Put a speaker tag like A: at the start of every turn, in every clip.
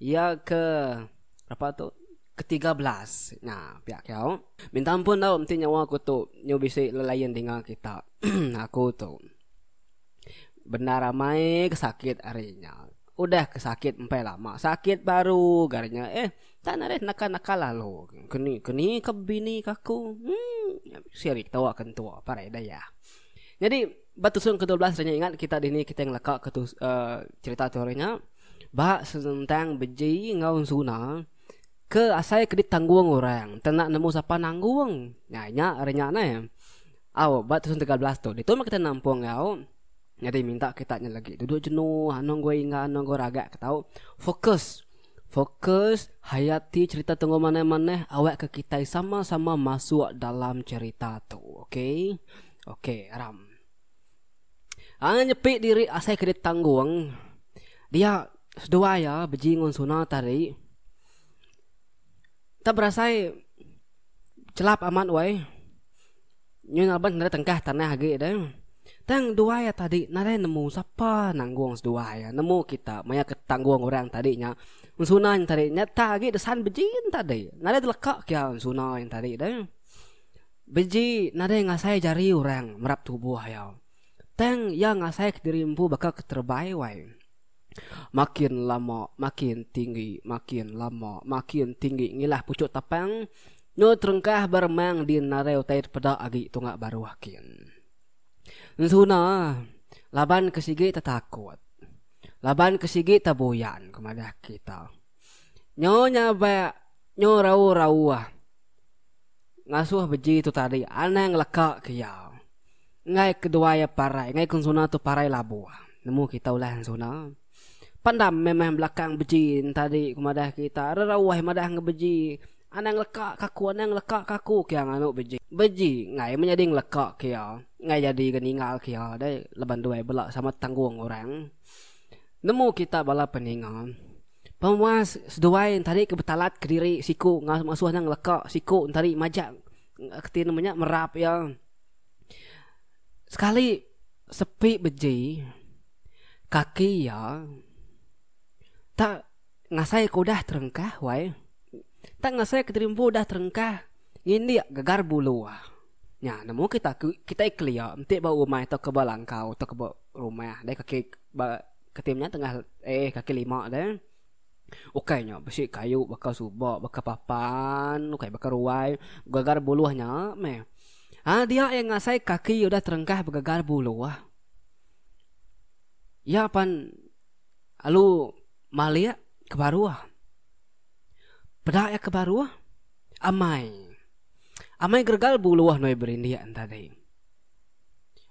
A: Iya ke apak tu ke tiga belas nya piak kiau. Minta ampun tau enti nyawa aku tu nyu bisi lelayan dinga kita aku tu bendar amai ke sakit ari nya udah ke sakit empai lama sakit baru ga ari nya eh enda narih naka naka lalu keni keni ke bini ke aku emm bisi ari ketewa ke entua parai dayah. Nyadi ba tusung ke dua belas nya ingat kita dini kita ngelaka ke tus uhh cherita tu ari nya. Ba senentang beji enggau ensuna ke asai ke ditanggung orang tena nemu sapa nanggung nyai nya ari nya neh. Au ba tusun tiga belas tu ditu meh kita nampung enggau nyadi minta kita nya legi tudu jenu anu enggau ingga anu enggau raga ke tau fokus fokus hayati cherita tu enggau manah manah awak ke kitai sama sama masuk dalam cherita tu okay okay ram. Anang nyepi diri asai ke ditanggung dia seduai iya beji ngun suna tadi. Kita berasai chelap amat wei nyu ngaban nda tengkah tanah agi deh. Tang duai iya tadi nadai nemu sapa nanggung seduai iya nemu kita maya ke tanggung orang tadi nya ngun suna nya tadi. Nyata agi desan beji nya tadi nadai teleka kia ngun suna nya tadi deh. Beji nadai ngasai jari orang merap tubuh iya, tang iya ngasai kediri empu baka keterebai wai. Makin lama makin tinggi, makin lama makin tinggi ngilah puchuk tapang nyu terengkah beremang di nadai utai dipeda agi tunga baruh kin. Ensuna laban ke sigi tetakut, laban ke sigi tebuyan ku madah kita. Nyo nya ba nyo rauh-rauh ngasuh beji tu tadi anang leka ke iya. Enggai keduai iya parai, enggai ke ensuna tu parai labuh. Nemu kita ulah ensuna. Pandam memang belakang beji ne tadi ku madah kita, rerauh madah enggau beji. Anang leka ke aku, anang leka ke aku ke iya nganu beji. Beji enggai meh nyadi ngeleka ke iya, enggai nyadi ke ninggal ke iya deh laban duai bela sama tanggung orang. Nemu kita bala peninga penguas seduai entari ke betalat kediri siku ngasuh ne ngeleka siku entari majak reti nama nya merap iya sekali sepi beji kaki iya tak ngasai ke udah terengkah wai tak ngasai ke terimbu udah terengkah ngindik gegar bulu. Nya, nemu kita ke kitai kelia enti ba rumah tauka ba langkau tauka ba rumah deh kaki ba keti menya tengah eh kaki lima deh. Ukai nya bisi kayu baka suba baka papan ukai baka ruai gegar buluh nya meh. Ha dia iya ngasai kaki iya udah terengkah begegar buluh. Iya pan lalu malik ke baruh. Peda iya ke baruh. Amai. Amai geregal bu luah nuai berindik enta dei.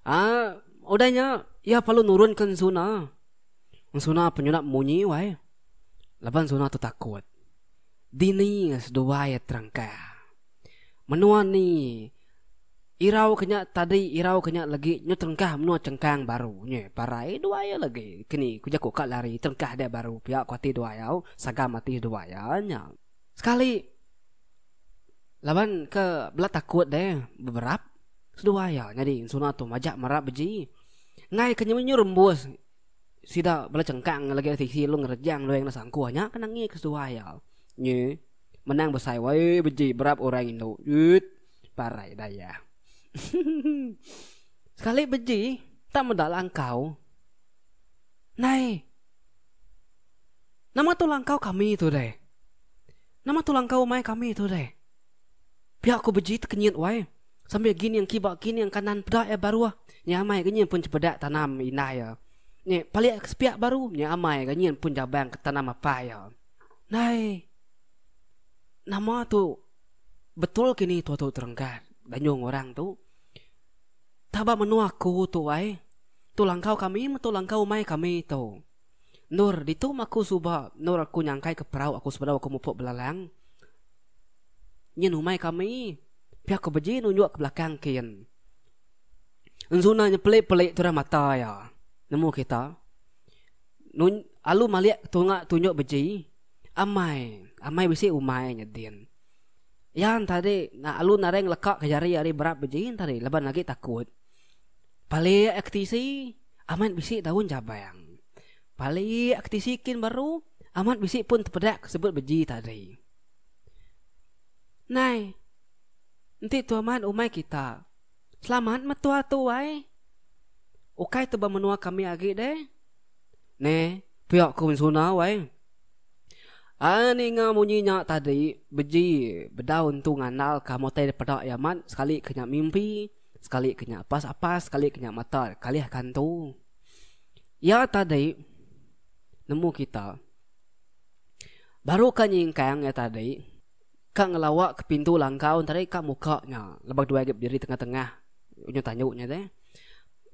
A: Ah, udah nya iya perlu nurun ke ensuna. Ensuna penyunat munyi wai. Laban ensuna tu takut. Dini seduai iya terangka. Menua ni irau ke nya tadi irau ke nya legi nyu terengkah menua chengkang baru nyi parai duai iya legi kini ku jaku ka lari terengkah dia baru pia ku ati duai au sagam ati duai iya nya. Sekali laban ke bela takut deh beberap seduai iya nyadi suna tu majak mera beji enggai ke nyemenyu rembus sida bela chengkang legi ari tisi lu ngerejang lu enda sangkuh nya ke nengih ke seduai iya nyi menang besai wai beji berap orang indu uut parai dayah sekali beji tak meda langkau nai. Nama tu langkau kami tu deh. Nama tu langkau umai kami tu deh. Pia ku beji tekenyit wai sambil gining kiba gining kanan peda iya baruh nya amai ga nyin pun cebeda tanam indah iya ni palik ke sepiak baru nya amai ga nyin pun jabang ke tanam apah iya. Ndai nama tu betul kini tua tu terenggat danyung orang tu taba menua aku tu wai tu langkau kami metu langkau umai kami tu. Endor, ditu mah aku suba endor aku nyangkai ke perau aku sebedau aku mupuk belalang. Nyin umai kami. Pia aku beji nunjuk ke belakang kin. Enzuna nyepeli-peli turah mata iya nemu kita. Nun, alu malik tunga tunjuk beji. Amai. Amai bisi umai nya din. Iya ntadi, alu naring leka ke jari ari berat beji ntadi laban agi takut. Palik ke tisi amat bisi daun jabang. Palik ke tisi kin baru amat bisi pun tepedak ke sebut beji tadi. Nai. Enti tu amat umai kita. Selamat meh tua tu ai. Ukai tu ba menua kami agi deh. Neh pia ku sunau ai. Ai ninga munyi nya tadi beji bedaun tu ngandal ka meh utai dipeda iya amat sekali ke nya mimpi. Sekali ke nya pas apas, sekali ke nya mata kalih kantu. Ya tadi nemu kita. Baru ka nyingkang ya tadi. Ka ngelawa ke pintu langkau tadi ka muka nya. Lebak dua agi berdiri tengah-tengah. Unyu tanyu nya tadi.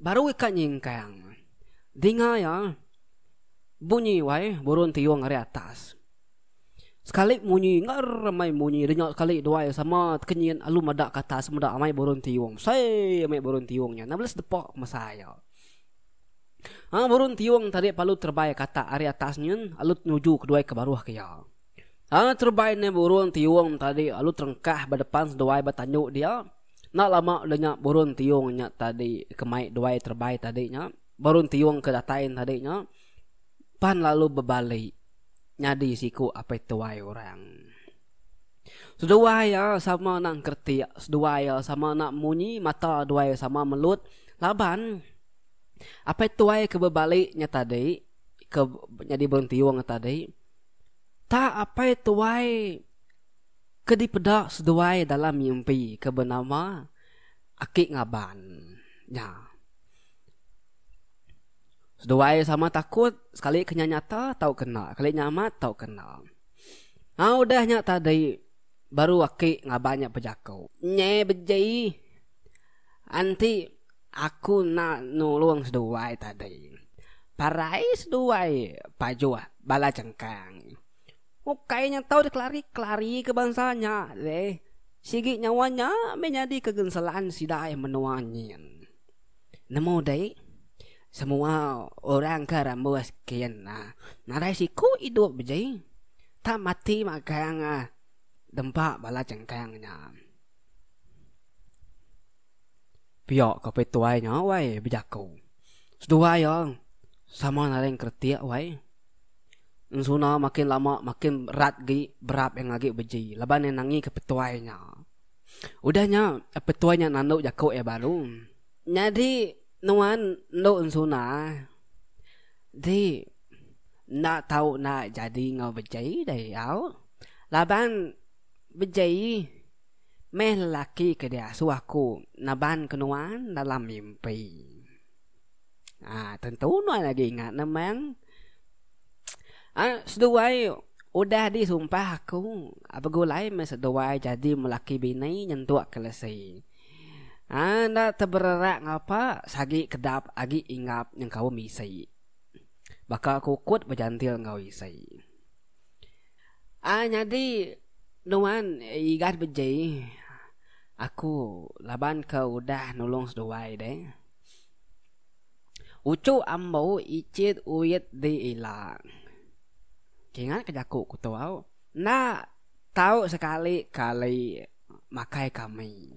A: Baru ka nyingkang. Dinga ya. Bunyi wai burun tiung ari atas. Sekali munyi ngerr amai munyi denya sekali duai sama tekenyit alu madak ke atas meda amai burung tiung sei amai burung tiung nya na bela sedepa masa aya. Ha burung tiung tadi pa alu terebai ke atak ari atas nyin alu nuju ke duai ke baruh ke iya. Lalu terebai ndai burung tiung tadi alu terengkah ba depan seduai ba tandu dia enda lama denya burung tiung nya tadi ke mai duai terebai tadi nya burung tiung ke datai tadi nya. pan lalu bebali nyadi siku apai tuai orang. Seduai iya sama enda engkeretik, seduai iya sama enda munyi, mata duai iya sama melut laban apai tuai ke bebali nya tadi ke nyadi berentiung nya tadi tak apai tuai ke dipeda seduai dalam mimpi ke benama Aki Ngaban nya. Seduai sama takut sekali ke nya nyata tauka enda, sekali nya amat tauka enda. Hang udah nya tadi baru aki ngaban nya bejaku, Nyi beji enti aku enda nulung seduai tadi, parai seduai pajuh bala chengkang. Ukai nya tau dikelari-kelari ke bansa nya deh. Sigi nyawa nya meh nyadi kegenselan sida menua nyin. Nemu dei semua orang ke rambus kin nadai siku idup beji tang mati magang dempa bala chengkang nya. Pia ko Opis Tuai nya wai bejaku. Seduai iya sama nadai ngkretik wai. Ensuna makin lama makin rat agi berap iya ngagai beji laban iya nangi ke petuai nya. Udah nya, petuai nya nandu jaku iya baru. Nyadi nuan endu ensuna ti enda tau enda jadi enggau beji deh au. Laban beji meh lelaki ke diasuh aku naban ke nuan dalam mimpi. Ha, tentu nuan lagi ingat nemang. Ha, seduai udah disumpah aku. Begulai meh seduai jadi melaki bini nyentuk kelesi. Ha, enda tebererak ngapa sagi kedap agi inggap nyengkaum isi. Baka kukut bejantil enggau isi. Ah nyadi nuan igat beji aku laban ke udah nulung seduai deh. Uchu ambo icit uit di ila. Kingat ke jaku ku tu au enda tau sekali kali makai kami.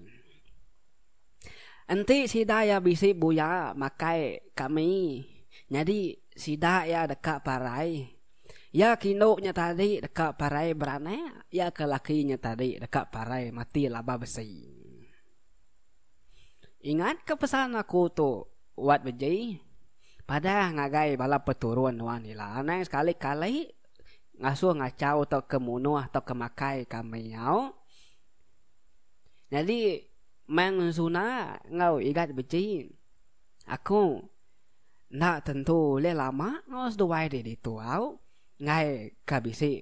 A: Enti sida iya bisi buya makai kami nyadi sida iya deka parai. Iya ke indu nya tadi deka parai beranak, iya ke laki nya tadi deka parai mati laban besi. Ingatka pesan aku tu, Wat Beji. Padah ngagai bala peturun nuan ila anang sekali-kali ngasuh ngachau tauka munuh tauka makai kami nyau. Nyadi Mang Zuna enggau Igat Beji, aku. Enda tentu ulih lama enggau seduai di ditu au enggai ka bisi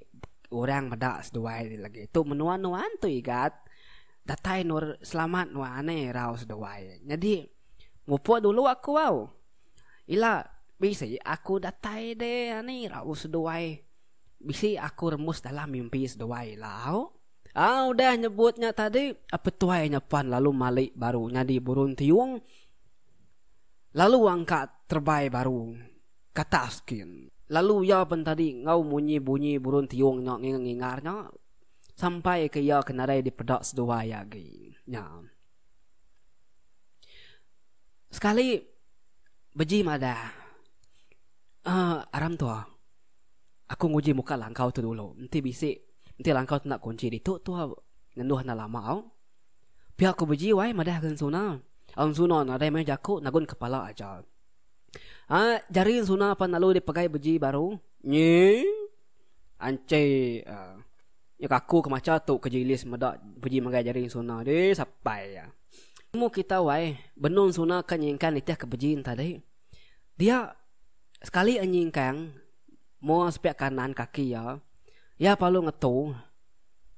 A: orang meda seduai ti legi tu menua nuan tu Igat datai nur selamat nuan ai irau seduai nyadi mupuk dulu aku au ila bisi aku datai de ani irau seduai bisi aku remus dalam mimpi seduai ila au au udah nyebut nya tadi a petuai nya pan lalu mali baru nyadi burun tiyung. lalu angka terebai baru kata askin. Lalu iya pen tadi enggau munyi bunyi burun tiung nya ngingar ngingar nya sampai ke iya ke nadai dipeda seduai agi nya. Sekali beji madah uhh aram tua aku nguji muka langkau tu dulu enti bisi enti langkau tu enda kunchi ditu tua ngenduh enda lama au. Pia ku Beji wai madah ke Ensuna. Ensuna nadai meh jaku nagun kepala aja. Ai jari Ensuna pan lalu dipegai Beji baru. Nyi. Anchai uhh. Nya kaku ke macha tu ke Jilis meda Beji megai jari Ensuna deh sapai iya. Nemu kita wai benung Ensuna ka nyingkang nitih ke Beji enti tadi. Dia sekali a nyingkang. mua sepiak kanan kaki iya, iya parlu ngetu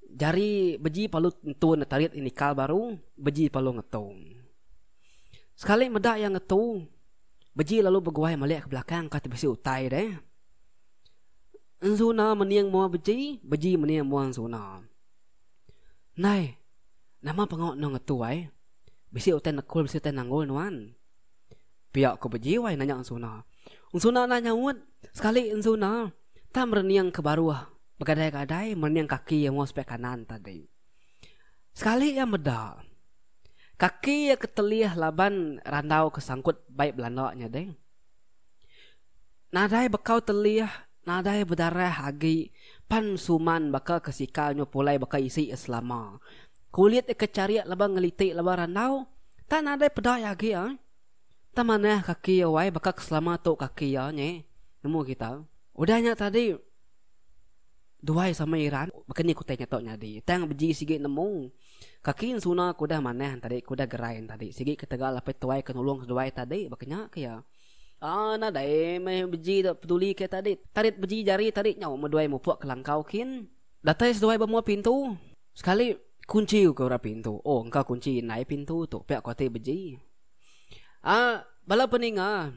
A: jari beji parlu tentu nda tarit inikal baru beji parlu ngetu. Sekali meda iya ngetu beji lalu beguai malik ke belakang ka ti bisi utai deh. Enzuna mening mua beji, beji mening mua enzuna. Nai, nama pengawa eno ngetu ai? Bisi utai nekul bisi utai nanggul nuan. Pia ku bejiwai nanya Ensuna. Ensuna enda nyaut. Sekali Ensuna tak merening ke baruh begadai-gadai merening kaki iya enggau sepiak kanan tadi. Sekali iya meda, kaki iya ke telih laban randau ke sangkut bai belanda nya deh. Nadai bekau telih, nadai bedarah agi pan suman baka ke sikal nya pulai baka isi iya selama. Kulit iya ke charik laban ngeliti laban randau tak nadai pedai agi ai. Tang manah kaki iya wai baka ke selama tu kaki iya nya nemu kita. Udah nya tadi duai sama Iran baka ni kutai nya tu nyadi tang beji sigi nemu kaki ensuna ke udah manah tadi ke udah gerai tadi sigi ketegal apai tuai ke nulung seduai tadi baka nya ke iya. Aa nadai meh beji dak peduli ke tadi. Tadi beji jari tadi nyau meh duai mupuk ke langkau kin. Datai seduai bemua pintu. Sekali kunchi uka orang pintu. Oh, engka kunchi indai pintu tu. Pia ku ati beji. Aa, bala peninga,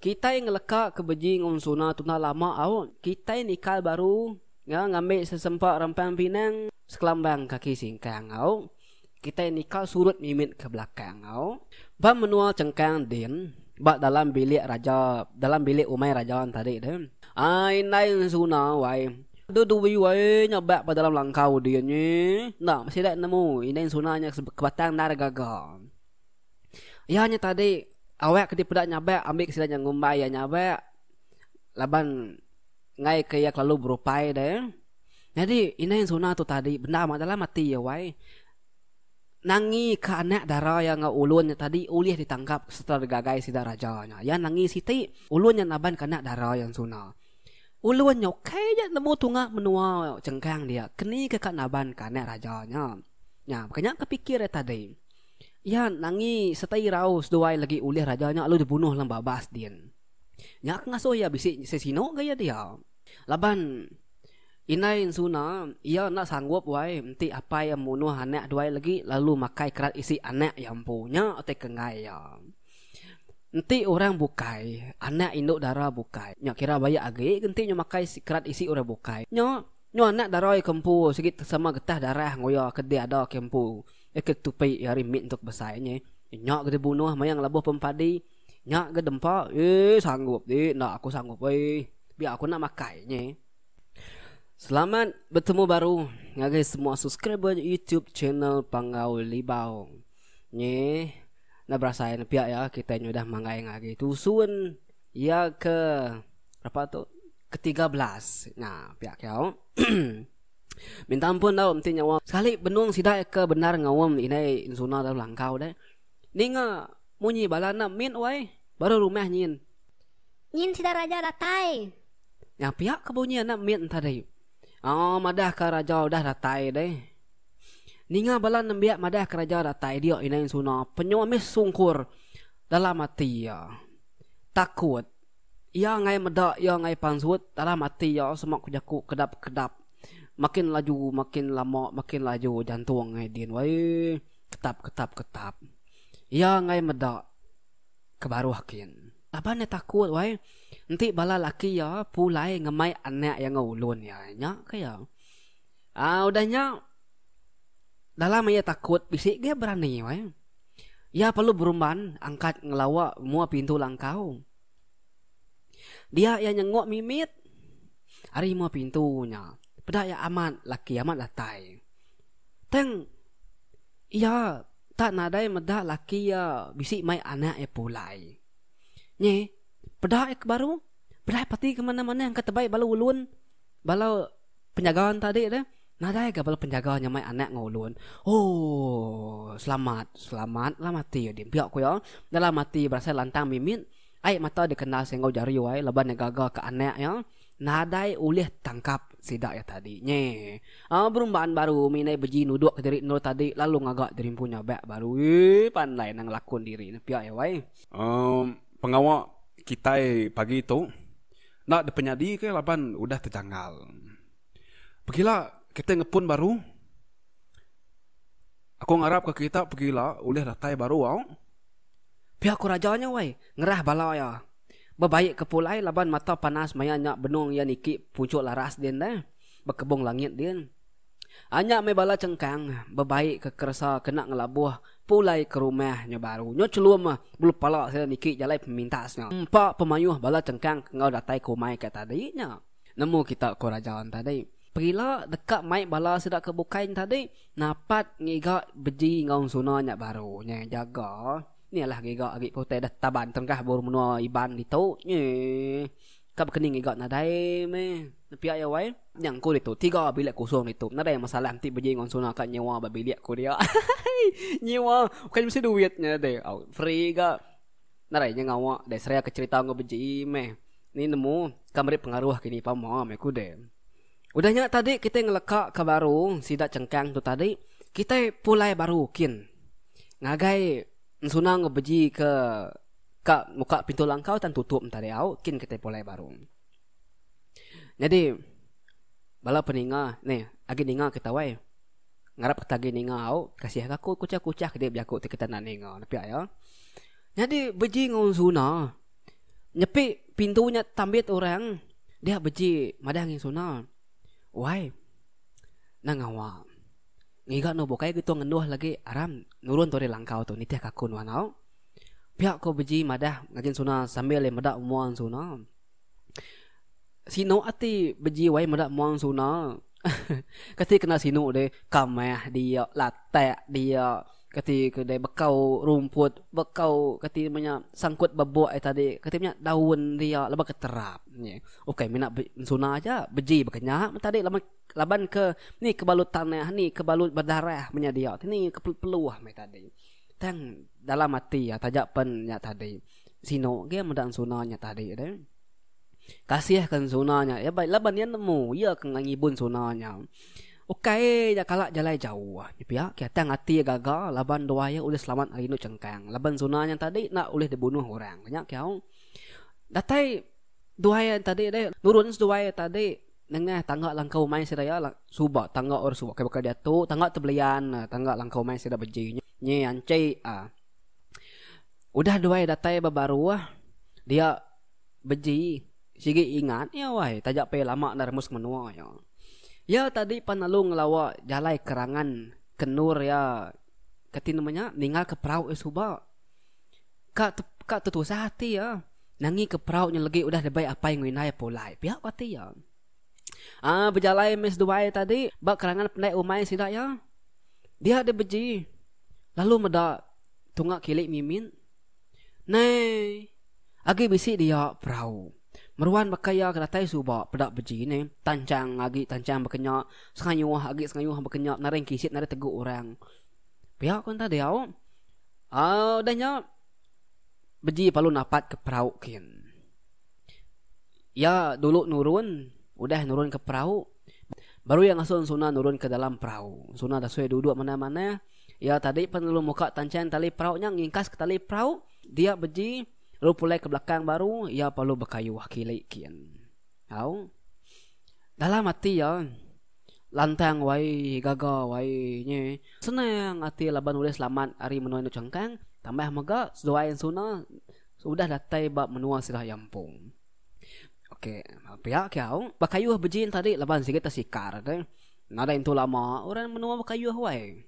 A: kitai ngeleka ke beji enggau Suna tu enda lama au. Kitai nikal baru enggau ngambi sesempa rempang pinang sekelambang kaki singkang au. Kitai nikal surut mimit ke belakang au. Ba menua Chengkang din. ba dalam bilik raja dalam bilik umai raja tadi tu. Ah indai suna wai. Tu duwi wai nya ba ba dalam langkau dia nyi. Enda sida nemu indai suna nya ke batang endar gaga. Iya nya tadi awak ke dipeda nyabak ambi ke sida nya ngumbai iya nyabak laban ngaika iya kelalu berupai deh. Nyadi indai suna tu tadi bendar ba dalam ati iya wai. Nangi ke anak dara iya enggau ulun nya tadi ulih ditanggap sereta digagai sida raja nya. Iya nangi siti, ulun nya naban ke anak dara iya ensuna. Ulun nya ukai aja nemu tunga menua Chengkang dia, keni ke ka naban ke anak raja nya. Nya, baka nya ke pikir iya tadi. Iya nangi sereta irau seduai legi ulih raja nya lalu dibunuh lang babas din. Nya ke ngasuh iya bisi sesino gaya dia. Laban indai ensuna iya enda sanggup wai enti apai iya munuh anak duai lagi lalu makai kerat isi anak iya empu. Nya utai ke enggai iya. Enti orang bukai, anak indu dara bukai, nya kira bayak agi ke enti inya makai kerat isi orang bukai. Nya, nyau anak dara iya ke empu sigi sama getah darah enggau iya ke deh ada ke empu iya ke ketupi iya ari mit entu ke besai nya. Nya ke dibunuh maya ngelabuh pempadi. Nya ga dempa eh sanggup deh enda aku sanggup weh biar aku enda makai nye. Selamat betemu baru ngagai semua subscriber YouTube channel Panggau Libau. Nye enda berasai ne pia ya kitai nya udah manggai ngagai tusun ya ke berapa tu ke 13 nya pia ke au. Minta ampun dau enti nyawa sekali benung sida ke bendar ngaum indai enzuna dalam langkau deh. Ninga Munyi bala enda min wai, baru rumah nyin. Nyin sida raja datai. Nya pia ke bunyi enda min tadi. Aa madah ka raja udah datai deh. Ninga bala nembiak madah ka raja datai dia indai ensuna penyu ambis sungkur dalam ati iya. Takut. Iya angai meda iya angai pansut dalam ati iya sema ku jaku kedap kedap. Makin laju makin lama makin laju jantung angai din wai. Ketap ketap ketap. Iya enggai meda ke baruh kin. Laban iya takut wai enti bala laki iya pulai ngemai anak iya enggau ulun iya. Nya ke iya. Aa udah nya dalam iya takut bisi agi iya berani wai. Iya perlu berumban angkat ngelawa mua pintu langkau. Dia iya nyengok mimit ari mua pintu nya. Peda iya amat laki amat datai. Tang. Iya tak nadai meda laki iya bisi mai anak iya pulai. Nyi, peda iya ke baru, peda iya pati ke manah-manah engka tebai bala ulun. Bala penjaga tadi tu, nadai ga bala penjaga nya mai anak enggau ulun. Ooh, selamat, selamatlah mati iya dimpiak ku iya. Dalam ati berasai lantang mimit, ai mata dikena singgau jari wai laban iya gaga ke anak iya. Nadai ulih tangkap sida iya tadi nye. Aaa berumban baru mih indai beji nuduk ke diri endur tadi lalu ngaga diri empu nyabak baru eee pandai nang ngelakun diri ne pia iya wai. Emm pengawa kitai pagi tu enda dipenyadi ke laban udah tejanggal. Pegila kitai ngepun baru aku ngarap ka kita pegila ulih datai baru au. Pia ku raja nya wai ngerah bala iya. Bebaik ke pulai laban mata panas maya nya benung iya niki puchuk laras din deh. Bekebung langit din. Anya meh bala chengkang bebaik ke keresa kena ngelabuh pulai ke rumah nya baru. Nya chelum bulu pala sida niki jalai pemintas nya. Empa pemayuh bala chengkang ke enggau datai ke umai ke tadi nya. Nemu kita ko raja en tadi. Perila deka mai bala sida ke bukai en tadi napat ngiga beji enggau ensuna nya baru. Nya jaga. Ni alah giga agi ke utai dah taban terengkah bur menua Iban ditu nyi. Ka bekening giga nadai meh. Nepia iya wai. Nyang ku ditu tiga bilik kosong ditu nadai masalah enti beji ngan Suna ka nyewa ba bilik ku dia. nyewa bukan mesti duit nya deh. Au free ga. Nadai nya ngawa deh seraya ke cherita enggau beji meh. Ni nemu ka meri pengaruh kini pama meh ku deh. Udah nya tadi kitai ngeleka ka baru sida chengkang tu tadi kitai pulai baru kin ngagai ensuna enggau beji ke ka muka pintu langkau tan tutup entah diau kin kitai pulai baru. Nyadi bala peninga neh agi ninga ke tawai ngarap kita agi ninga au kasih ka aku kuchah kuchah ke dia bejaku ti kita enda ninga pia iya. Nyadi beji enggau ensuna. Nyepi pintu nya tambit orang dia beji madah ngi sona. Wai. Nang ngawa. Ngiga anu bukai gitu ngenduh lagi aram nurun tu ari langkau tu nitih kaku nuan au. Pia ko beji madah ngajin sona sambil le meda mua sona. Sinu ati beji wai meda mua sona. Kati kena sinu deh kamah dia latak dia. Kati ke deh bekau rumput, bekau kati nama nya sangkut bebok ai tadi, kati menya daun dia laban ke terap nyi. Ukai mina be suna aja, beji baka nya meh tadi laban laban ke ni ke balut tanah, ni ke balut bedarah menya dia ti ni ke peluh-peluh meh tadi. Tang dalam ati iya taja pen nya tadi. Sino ge meda suna nya tadi deh. Kasihka suna nya, laban iya nemu, iya ke ngibun suna nya. Ukai nya kala jalai jauh. Nya pia, Kiatang ati iya gaga laban dua iya ulih selamat ari indu chengkang laban Zuna nya enti adi enda ulih dibunuh orang. Nya kiau datai dua iya enti adi deh nurun seduai iya enti adi nengah tangga langkau umai sida iya suba tangga orang suba baka diatu tangga ti belian tangga langkau umai sida beji nya nyi anchai uhh udah dua iya datai ba baruh dia. Beji, sigi ingat iya wai taja pia lama enda remus ke menua iya. Iya tadi pan lalu ngelawa jalai kerangan ke endur iya ke ti nama nya ninggalka perau iya suba. Ka te ka tetusah ati iya nangi ke perau nya legi udah dibai apai enggau indai iya pulai pia ku ati iya. Aa bejalai meh seduai tadi ba kerangan pendai umai sida iya dia deh beji lalu meda tunga kili mimin. Nei. Agi bisi dia perau. Meruan baka iya ke datai suba peda beji nei. Tanchang agi tanchang bekenya, sengayuh agi sengayuh bekenya penari kisit penari tegu orang. Pia ku enta diau. Au udah nya beji palu napat ke perau kin. Iya dulu nurun udah nurun ke perau baru iya ngasun suna nurun ke dalam perau. Suna dasui duduk manah-manah. Iya tadi pen lalu muka tanchan tali perau nya ngingkas ke tali perau dia beji lalu pulai ke belakang baru iya perlu bekayuh kili kin. Au. Dalam ati iya lantang wai gaga wai nyi senang ati laban ulih selamat ari menua indu changkang tambah mega seduai ensuna udah datai ba menua sirah yampung. Okey, pia ke au bakayuh bejin tadi laban sigi tesikar deh. Nadai intu lama orang menua bakayuh wai.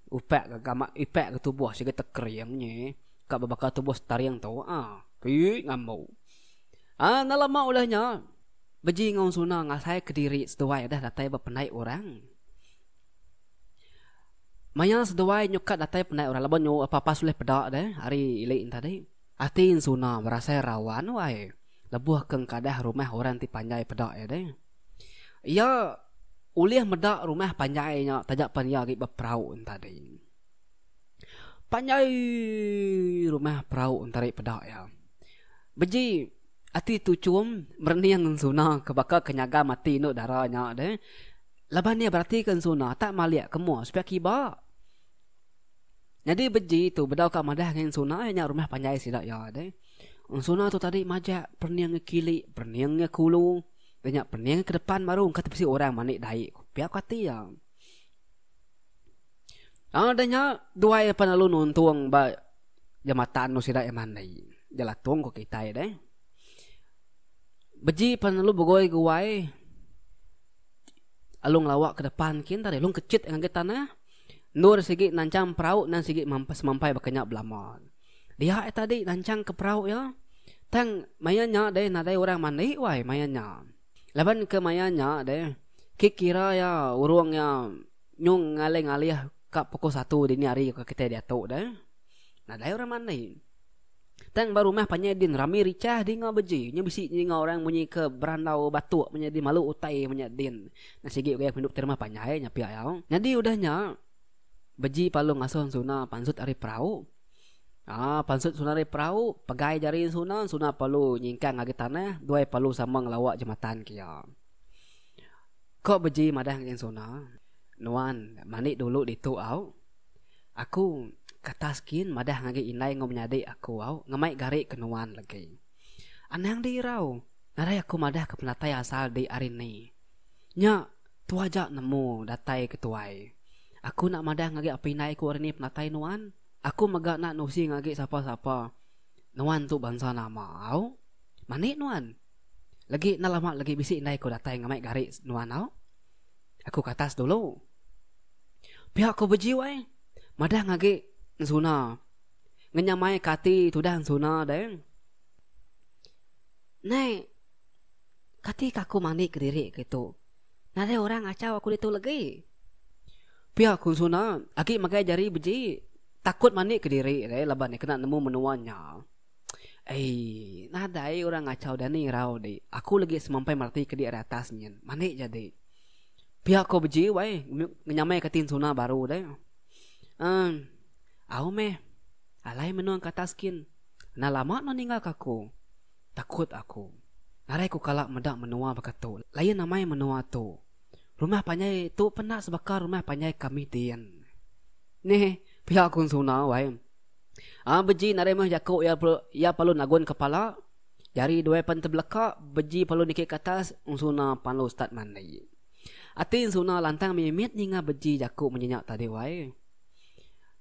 A: Upak ke gamak ipak ke tubuh sigi tekering nyi ka bebaka tubuh setaring tu aa ii ngambu. Aa enda lama udah nya beji enggau suna ngasai kediri seduai deh datai ba pendai orang. Maya seduai nyukat datai pendai orang laban nyu apa-apa sulih peda deh ari ili ne tadi. Ati Insuna berasai rawa anu ai lebuh ke engkadah rumah orang ti panjai peda iya deh. Iya ulih meda rumah panjai nya taja pan iya agi beperau entadi. Panjai rumah perau entadi peda iya. Beji ati Tuchum merening Insuna ke baka ke nyaga mati indu dara nya deh laban iya beratika Insuna tak malik ke mua supaya kiba. Nyadi beji tu bedau ka madah ngan Ensuna iya nya rumah panjai sida iya deh. Ensuna tu tadi majak pening iya kili, pening iya kulu. Iya nya pening ke depan baru engka te bisi orang mani dai ku pia ku ati iya. Lalu deh nya duai iya pan lalu nuntung ba jambatan tu sida iya mandi. Jelatung ku kitai deh. Beji pan lalu begoi guai lalu ngelawak ke depan kin tadi lalu kechit ngagai tanah. Endur sigi nanchang perau nan sigi semampai baka nya belama. Dia ai tadi nanchang ke perau iya. Tang maya nya deh nadai orang mandi wai maya nya. Laban ke maya nya deh ke kira iya urung iya nyung ngalih-ngalih ka pukul satu dini hari ke kitai diatu deh. Nadai orang mandi. Tang ba rumah panjai din rami richah di enggau beji. Nya bisi di enggau orang munyi ke berandau batuk manya din malu utai manya din. Nya sigi ugai aku idup ti rumah panjai nya pia iya. Nyadi udah nya beji palu ngasuh ensuna pansut ari perau. Aa pansut ensuna ari perau pegai jari ensuna, ensuna palu nyingkang agi tanah duai palu sama ngelawa jematan ke iya. Ko beji madah ngagai ensuna, Nuan mandi dulu ditu au. Aku katas gin madah ngagai indai enggau menyadi aku au ngemai gari ke nuan legi. Anang di irau, nadai aku madah ke penatai asal di ari ni. Nya tu aja nemu datai ke tuai. Aku enda madah ngagai apai indai aku ari ni penatai nuan. Aku mega enda nusi ngagai sapa-sapa nuan tu bansa nama au. Mani nuan. Legi enda lama legi bisi indai aku datai ngemai gari nuan au. Aku katas dulu. Pia ko Bejio ai. Madah ngagi ensuna. Ngenyamai ka ati tudah ensuna deh. Nai kati ka aku mandi kediri kitu. Nadai orang ngachau aku ditu legi. Pia ko ensuna agi magai jari beji takut mandi kediri deh laban iya kena nemu menua nya. Eii, nadai urang ngacau dani irau dik. Aku lagi semampai merati kedi ari atas nyin. Mandi ja dik. Pia ko beji wai ngenyamai ka tin suna baru deh. Emm, au meh. Alai menung ka atas kin. Nah lama no ninggal ka aku. Takut aku. Ngarai ku kala meda menua baka tu. Lain amai menua tu. Rumah panjai tu penda sebaka rumah panjai ka mih din. Neh, pia ku suna wai. Ah beji nadai meh jaku iya iya palu nagun kepala jari duai pan tebeleka beji palu niki ke atas ensuna palu start mandi. Ati ensuna lantang mimit ninga beji jaku munyi nya tadi wai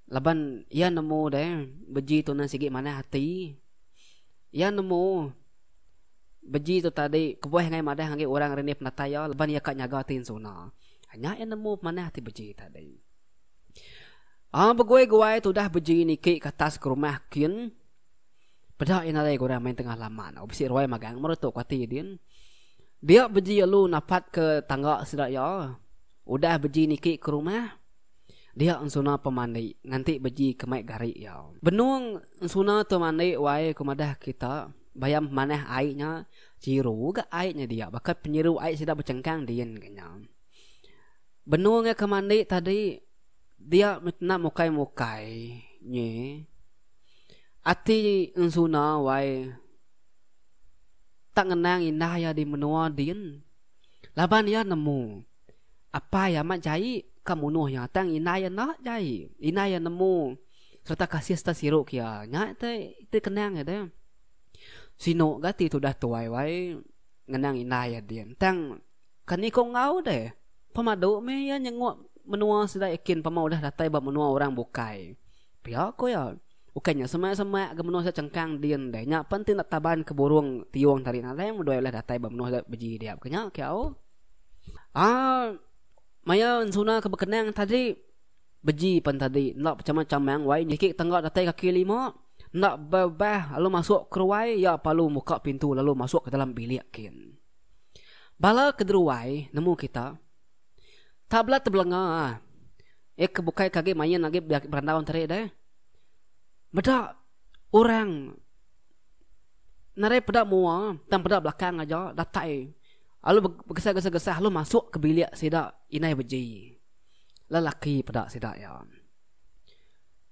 A: laban iya nemu deh beji tu na sigi manah ati iya nemu beji tu tadi kebuah angai madah agi orang renih penatai iya laban iya ka nyaga ati ensuna. Nya iya nemu manah ati beji tadi. Au beguai-guai tudah beji niki ke atas ke rumah kin. Peda iya nadai ke orang main tengah laman. Au bisi ruai magang meh retu kuati iya din. Dia beji alu napat ke tangga sida iya. Udah beji niki ke rumah, dia ensuna pemandi nganti beji ke mai gari iya. Benung ensuna tu mandi wai ku madah kita, bayam pemanah ai nya chiru ga ai nya dia. Baka penyiru ai sida bechengkang din ke nya. Benung iya ke mandi tadi dia meh kena mukai-mukai nyi ati ensuna wai tak ngenang indah iya di menua din laban iya nemu apai iya amat jai ka munuh iya tang indah iya enda jai indah iya nemu sereta kasih sereta siru ke iya nya te ti kenang iya deh sinu ga ti tudah tuai wai ngenang indah iya din tang. Kan iko enggau deh. Pemadu meh iya nyenguk menua sida iya kin pemau udah datai ba menua orang bukai. Pia ko iya. Ukai nya semak-semak ga menua sida chengkang din deh. Nya pen ti enda taban ke burung tiung tadi nadai meh doi ulah datai ba menua sida beji dia ke nya ke au. Aa maya ensuna ke bekenang tadi beji pen tadi enda pechamang-chamang meh wai niki tengga datai kaki lima enda bebah lalu masuk ke ruai iya palu muka pintu lalu masuk ke dalam bilik kin. Bala ke deruai nemu kita, tak bela tebelenga ah. Iya ke bukai ke agi main agi berandau tadi deh. Meda orang nadai peda mua tang peda belakang aja datai lalu begesah-gesah lalu masuk ke bilik sida inai beji. Lelaki peda sida iya.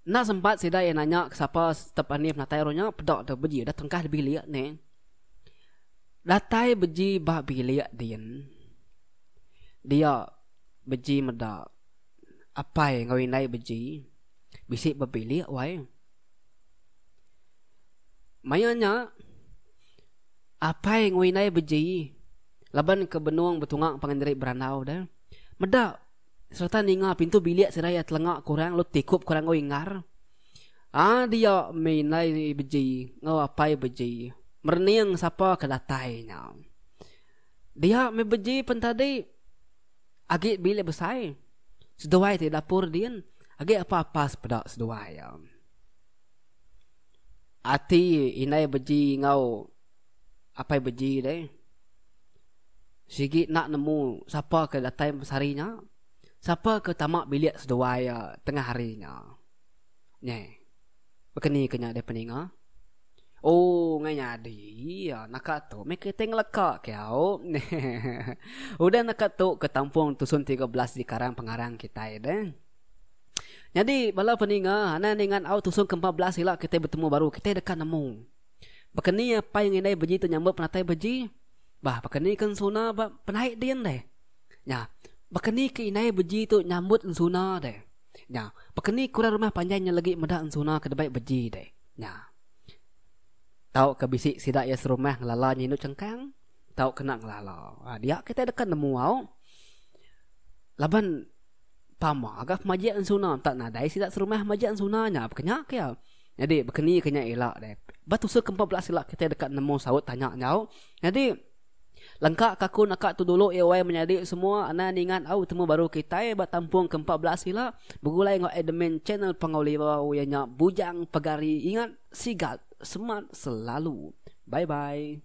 A: Enda sempat sida iya nanya ke sapa step anih penatai ru nya peda deh beji dah tengkah bilik nih. Datai beji ba bilik din. Dia beji meda apai enggau indai beji bisi ba bilik wai. Maya nya apai enggau indai beji laban ke benung betunga pangan diri berandau deh meda. sereta ninga pintu bilik serai iya telenga ke orang lalu tikup ke orang oi engar. Ah dia meh indai beji enggau apai beji merening sapa ke datai nya. Dia meh beji pen tadi agi bilik besai seduai ti dapur din agi apa-apa sepeda seduai iya. Ati indai beji enggau. Apai beji deh. Sigi enda nemu sapa ke datai masa hari nya. Sapa ke tama bilik seduai iya tengah hari nya. Nyi. Baka ni ke nya deh peninga. Oh, ngai nyadi iya naka tu meh kitai ngeleka ke au. Udah naka tu ke tampung Tusun Tiga Belas di Karang Pengarang kitai deh. Nyadi bala peninga, anang ninga au Tusun Ke Empat Belas ila kitai betemu baru, kitai deka nemu. Baka ni apai ngan indai beji tu nyambut penatai beji? Bah, baka ni ke ensuna ba penaik din deh? Nya, baka ni ke indai beji tu nyambut ensuna deh? Nya, baka ni ke orang rumah panjai nya legi meda ensuna ke dibai beji deh? Nya. Tauka bisi sida iya serumah ngelala nya indu chengkang, tau kena ngelala. Ba dia kitai deka nemu au. Laban pama ga pemajik ensuna enta nadai sida serumah majik ensuna nya, baka nya ke iya. Nyadi bekeni ke nya ila deh. Ba tusa ke empat belas ila kitai deka nemu saut tanya nyau. Nyadi lengka ka aku naka tu dulu ia wai menyadi semua anai ningat au temu baru kitai ba tampung ke empat belas ila begulai enggau admin channel Pangau Lirau ia nya Bujang Pegari ingat sigat semat selalu. Bye bye.